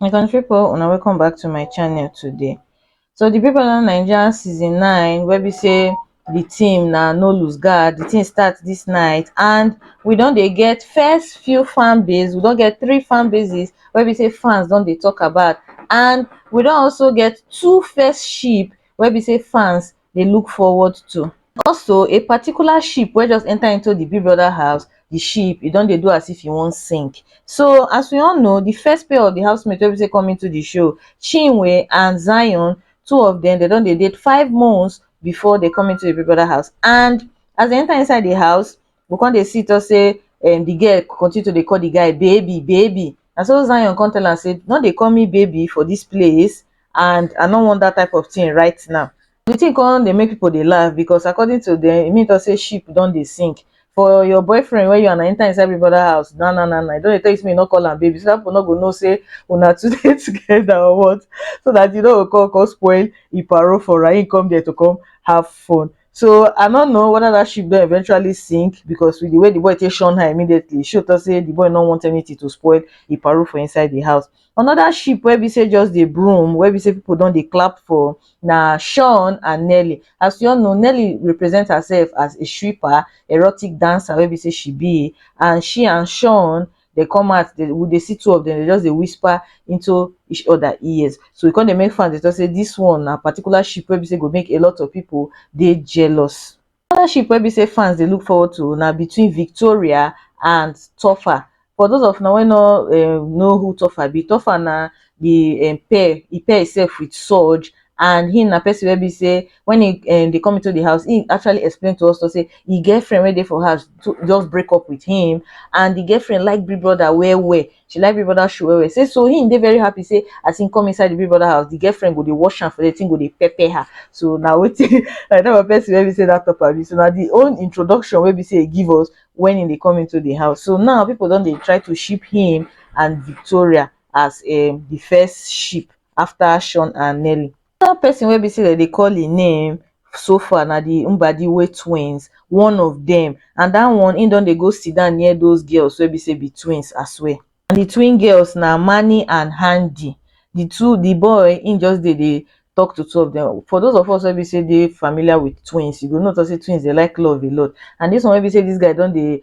My country people, una welcome back to my channel today. So the people on Nigeria season 9 where we say the team now no lose guard, the team starts this night and we don't they get first few fan base, we don't get three fan bases where we say fans don't they talk about and we don't also get two first sheep where we say fans dey look forward to. Also, a particular ship wey just enter into the Big Brother house, the ship, e don dey do as if e wan sink. So, as we all know, the first pair of the housemates wey be say come into the show, Chinwe and Zion, two of them, they don dey date five months before they come into the Big Brother house. And as they enter inside the house, go come dey see talk say um the girl continue to dey call the guy baby baby na so Zion come tell am say no dey call me baby for this place and I no want that type of thing right now the thing come dey make people dey laugh because according to them e mean talk say ship don dey sink for your boyfriend wey you and I enter inside every brother house na na na na e don dey tell you say make you no call am baby so that people no go know say una two dey together or what so that you no go come come spoil e parole for am him come there to come have fun so i no know whether that ship don eventually sink because with the way the boy take shun her immediately show talk say the boy no want anything to spoil e parole for inside the house another ship wey be say just dey broom wey be say people don dey clap for na sean and nelly as you all know nelly represent herself as a stripper erotic dancer wey be say she be and she and sean dey come out dey we dey see two of dem dey just dey whisper into each other ears so e come dey make fans dey talk say this one na particular ship wey be say go make a lot of people dey jealous another ship wey be say fans dey look forward to na between Victoria and Tofa for those of una wey no um know who Tofa be Tofa na the um pair e pair himself with Surge and him na person wey be sey when he um dey come into the house him actually explain to us to say e get friend wey dey for house to just break up with him and the girlfriend like big brother well well she like big brother shoe well well say so him dey very happy say as him come inside the big brother house the girlfriend go dey wash am for there the thing go dey pepper her so na wetin na that one person wey be say that talk am so na the own introduction wey be say he give us when he dey come into the house so now people don dey try to ship him and Victoria as um the first ship after sean and nelly another person wey be say dem dey call him name so far na the mbadiwe twins one of dem and that one him don dey go sit down near those girls wey be say be twins as well and the twin girls na mani and handi the two the boy him just dey dey talk to two of them for those of us wey be say dey familiar with twins you go know talk say twins dey like love a lot and this one wey be say this guy don dey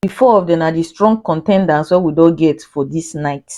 di four of dem na di strong contenders wey we don get for dis night.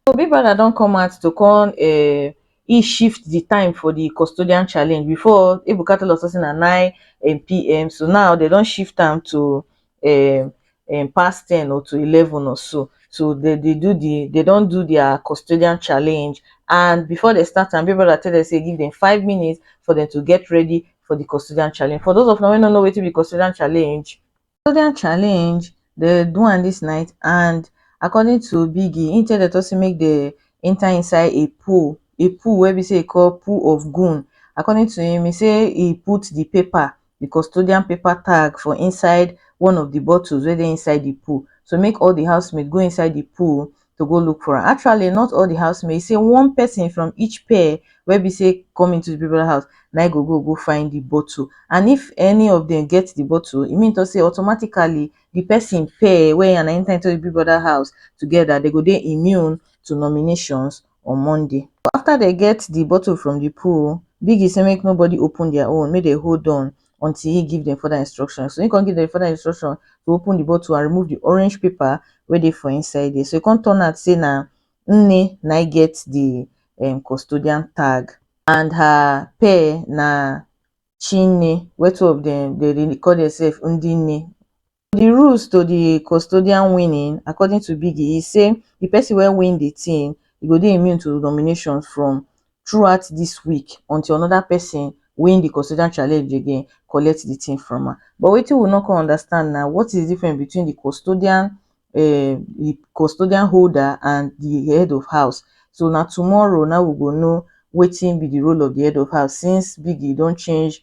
So Big Brother don come out to come um he shift di time for di custodian challenge before Ebuka tell us say na nine um pm so now dem don shift am to um um past ten or to eleven or so. So dem dey do di dem don do dia custodian challenge and before dem start am Big Brother tell dem say give dem five minutes for dem to get ready for di custodian challenge. For those of una wey no know wetin be custodian challenge, custodian challenge dey do am dis night and according to biggie him tell dem talk say make dem enter inside a pool a pool wey be say e call pool of goon according to him he say he put the paper the custodian paper tag for inside one of the bottles wey dey inside the pool so make all the house mate go inside the pool to go look for am. Actually, not all the housemates, say one person from each pair wey be say come into the people house na go go go find the bottle and if any of them get the bottle e mean to say automatically the person pair wey and enter into the big brother house together they go dey immune to nominations on monday after they get the bottle from the pool biggie say make nobody open their own make they hold on until he give them further instruction so he come give them further instruction to open the bottle and remove the orange paper wey dey for inside there so e come turn out say na nne na I get the um, custodian tag and her pair na chinne wey two of them they dey call themselves ndinne for di rules to di custodian winning according to biggie e say di pesin wey win di tin e go dey immune to nominations from throughout dis week until anoda pesin win di custodian challenge again collect di tin from am but wetin we no come understand na what is di difference between di custodian um di custodian holder and di head of house so na tomorrow na we go know wetin be di role of di head of house since biggie don change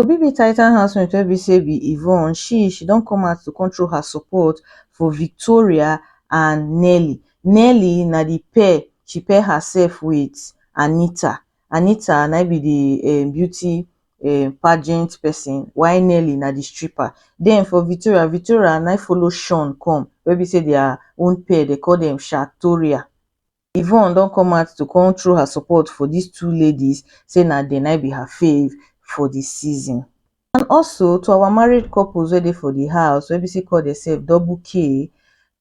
Obi be Titan housemate wey be say be Yvonne she she don come out to come throw her support for Victoria and Nelly. Nelly na the pair she pair herself with Anita. Anita na im be the um beauty um pageant person while Nelly na the stripper. Den for Victoria, Victoria na im follow Shawn come wey be say their own pair dem call dem Shatoria. Yvonne don come out to come throw her support for dis two ladies say na dem na im be her fave for di season. And also to our married couples wey dey for di house wey be say call demsef double K,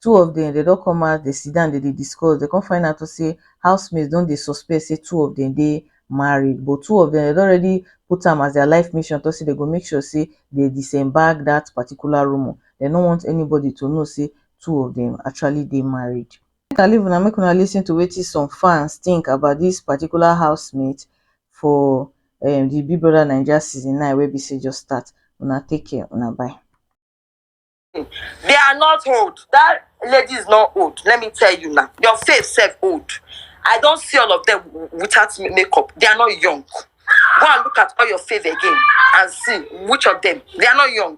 two of dem dem don come out dem sit down dem dey discuss dem come find out say housemates don dey suspect say two of dem dey married but two of dem dem don already put am as their life mission talk say dem go make sure say dem disembark dat particular rumour dem no want anybody to know say two of dem actually dey married. Make I leave una make una lis ten to wetin some fans think about this particular housemate for um the Big Brother Naija season nine wey be say just start. Una take care, una bye. They are not old. That lady is not old. Let me tell you now. Your face self old. I don't see all of them w- without ma- makeup. They are not young. Go and look at all your face again and see which of them. They are not young.